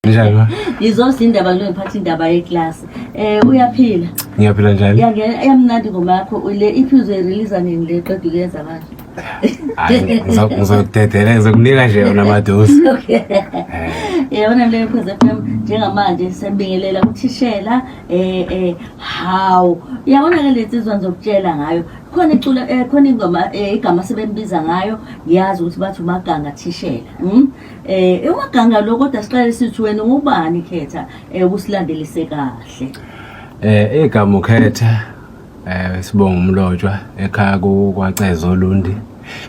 Njani ma? Ngizoza indaba kule ngiphatha indaba yeclass. Eh uyaphila? Ngiyaphila njani? Yangena eyamnandi ngoma yakho le iphi uzoyirelease nini le qeda ukuyenza manje? Hayi ngizodedela ngizokunika nje yona madosi. Okay. Yabona le Khosi FM njengamanje sembingelela uthishela eh eh how yabona ke lezi zizwa ngizokutshela ngayo khona icula eh, khona ingoma eh, igama sebembiza ngayo ngiyazi ukuthi bathi umaganga thishela. Mhm. Eh umaganga lo kodwa siqale sithi wena ubani khetha eh ukusilandelise kahle. Eh igama ukhetha eh sibonga umlotshwa ekhaya kwaCezo Lundi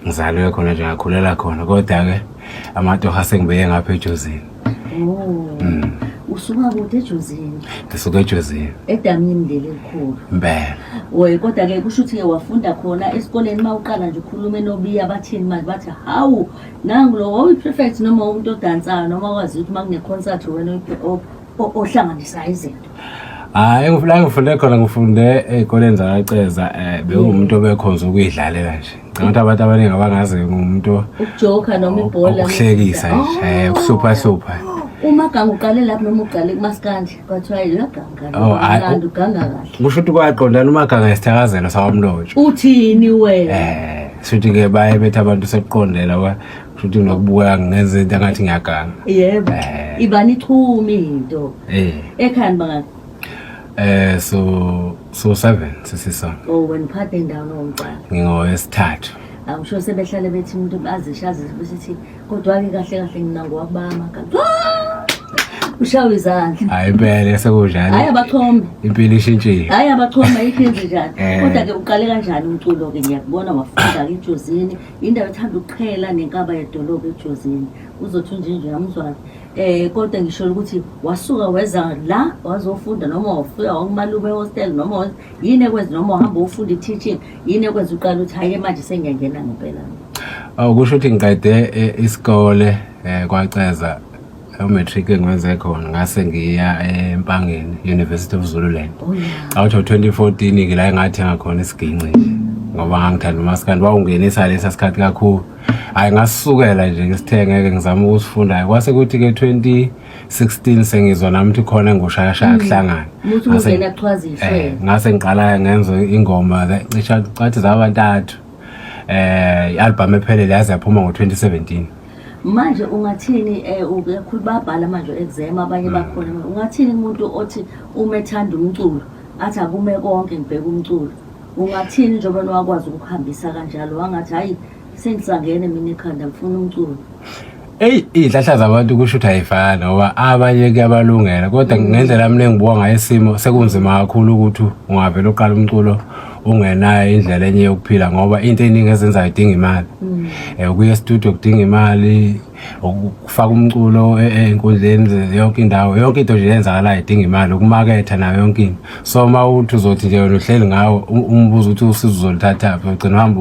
ngizalwe khona nje ngakhulela khona kodwa ke amatoha sengibeye ngapha ejozini. Oh. Mm. usuka kude ejozini ngisuka ejozini edamini leli elikhulu impela oye kodwa-ke kusho ukuthi-ke wafunda khona esikoleni uma uqala nje ukhulume nobiya bathini manje bathi hawu nangu lo wawuyi-prefect noma umuntu odansayo noma wazi ukuthi uma kune-concert wena ohlanganisayo izinto hayi la ngifunde khona ngifunde ey'koleni zakaceza um eh, bewuwumuntu obekhonza ukuyidlalela nje ngicanga ukuthi abantu abaningi abangazi ngumuntu ukujoka noma ibhola ukuhlekisa nje um ukuhluphahlupha umagange uqale lapho noma uqale kumasikandla kwajwayela uganga Oh, hhayi, kamnandi uganga kahle kusho ukuthi kwaqondana umaganga isithakazelo sawamlotshwa uthini wena Eh, shuthi ke baye bethi abantu sekuqondela wa shuthi nokubuka ngenze into angathi ngiyaganga. yebo Eh. ibani ichumi into Eh, ekhani bangani eh so so 7 sisisonke. o wena uphathe ndawo nomcala Ngingowesithathu. awusho sebehlale bethi umuntu azishe azisho besithi Kodwa-ke kahle kahle ngina ngowakubanga kanti ushawe izandla hayi impela sekudlala hayi abachome impilo ishintshile hayi abachome ayikho enze njani eh. kodwa ke uqale kanjani umculo ke ngiyakubona wafunda ke ejozini indawo ethanda ukuqhela nenkaba yedolobha ejozini uzothi unje nje amuzwazi eh kodwa ngisho ukuthi wasuka weza la wazofunda noma wafika wakumalume hostel noma yini ekwenza noma uhamba ufunda i-teaching yini ekwenza uqala ukuthi hhayi manje sengiyangena ngempela awu kusho ukuthi ngiqede eh, isikole um kwaceza umatric engiwenze khona ngase ngiya empangeni university of zululand oh, out of 2014 ke la engathenga khona isiginci nje ngoba ngangithanda umaskandi wawungenisa lesa sikhathi kakhulu hhayi ngasukela nje ngisithengeke ngizama ukusifunda kwase kuthi-ke 20 16 sengizwa nami ukuthi khona engushayashaya mm. kuhlangana muthi ungena kuchwaza ihlelo eh, ngase ngiqala ngenza ingoma cisha cathi zabantathu eh i-album ephelele yaze yaphuma ngo-2017 manje ungathini eh uyakhulu babhala manje exam abanye mm. bakhona ungathini umuntu othi uma ethanda umculo athi akume konke ngibheka umculo ungathini njengoba wakwazi ukuhambisa kanjalo wangathi hayi Sengisangene mina ekhanda ngifuna umculo. Ey izihlahla zabantu kusho ukuthi ayifani ngoba abanye kuyabalungela kodwa ngendlela yami lengibuka ngayo isimo sekunzima kakhulu ukuthi ungavele uqala umculo ungenayo indlela enye yokuphila ngoba into eningi ezenzayo idinga imali mm. eh ukuya estudio kudinga imali ukufaka umculo e-, e-, enkundleni yonke indawo yonke into nje yenzakalayo idinga imali ukumaketha nayo yonke into so uma uthi uzothi nje wena uhleli ngawo umbuzo ukuthi usizo uzolithathaphi ugcina uhamba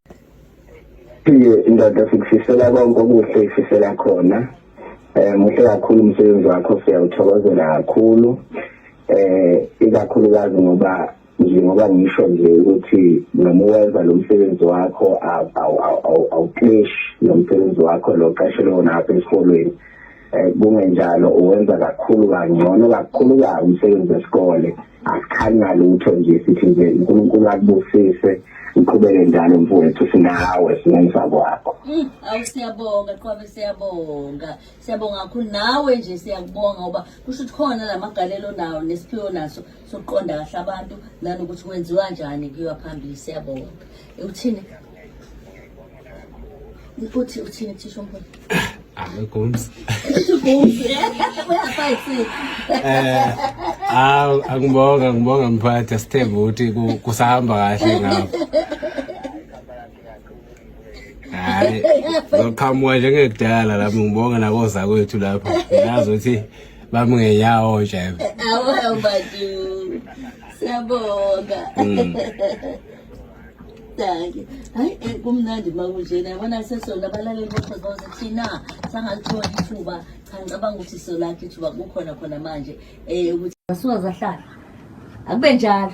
Phinde ndoda sikufisela konke okuhle ifisela khona eh muhle kakhulu umsebenzi wakho siyawuthokozela kakhulu eh ikakhulukazi ngoba njengoba ngisho nje ukuthi noma uwenza lo msebenzi wakho awukleshi lo msebenzi wakho lo qashelwe wona apha esikolweni um kungenjalo uwenza kakhulu kangcono kakhuluka umsebenzi wesikole asikhanya lutho nje sithi nje unkulunkulu akubusise uqhubeke njalo mfowethu sinawe sinenza kwakho hmm, awu siyabonga qwabe siyabonga siyabonga kakhulu nawe nje siyakubonga ngoba kusho ukuthi khona la magalelo nawo nesiphiwo naso sokuqonda kahle abantu nanokuthi kwenziwa njani kuyiwa phambili siyabonga uthini uthi uthini thisha umholi amegums awu angibonga ngibonga mphathi asithembe ukuthi kusahamba kahle ngapha hayi zoqhamuka njengekudala lapho ngibonga nakoza kwethu lapho ngiyazi ukuthi bami ngenyawo nje awu badu siyabonga mm. Danke. Hayi eh, kumnandi makunjena yabona sesona abalaleli bokhozi bawuze thina sangalithola ithuba cha ngicabanga ukuthi solakho ithuba kukhona khona manje um ukuthi basuka zahlala akube njalo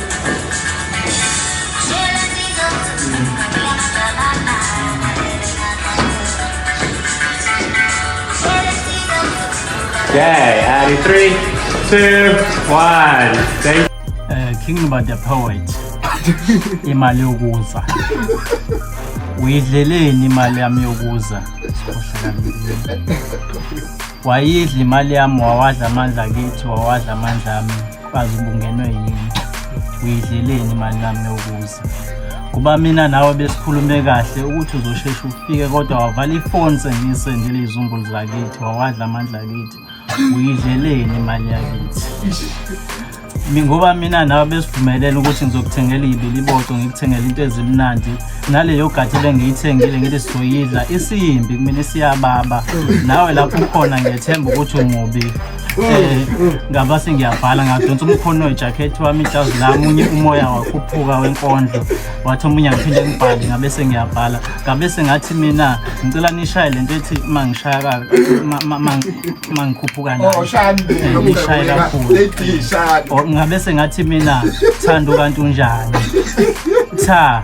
Okay, Addy, three, two, one. Thank uh, King about the poet. imali yokuza. Uyidleleni imali yami yokuza? Wayidla imali yami wawadla amandla kithi wawadla amandla ami. bazi ubungenwe yini uyidleleni imali nami yokuza kuba mina nawe besikhulume kahle ukuthi uzosheshe ufike kodwa wavala ifoni sengisendile izizumbulu zakithi wawadla amandla akithi uyidleleni imali yakithi ngoba mina nawe besivumelene ukuthi ngizokuthengela ibili iboco ngikuthengela into ezimnandi naleyo gadi lengiyithengile ngithi sizoyidla isiyimbi kumina isiyababa nawe lapho ukhona ngiyethemba ukuthi umubi ngaba sengiyabhala ngadonsa umkhono wejakhethi wami ijazi lami unye umoya wakhuphuka wenkondlo wathi omunye ngiphinde ngibhale ngabe sengiyabhala ngabe sengathi mina ngicela nishaye le nto ethi uma ngishaya uma ngikhuphuka nayoishaye oh, kakhulu oh, ngabe sengathi mina thanda ukanti unjani cha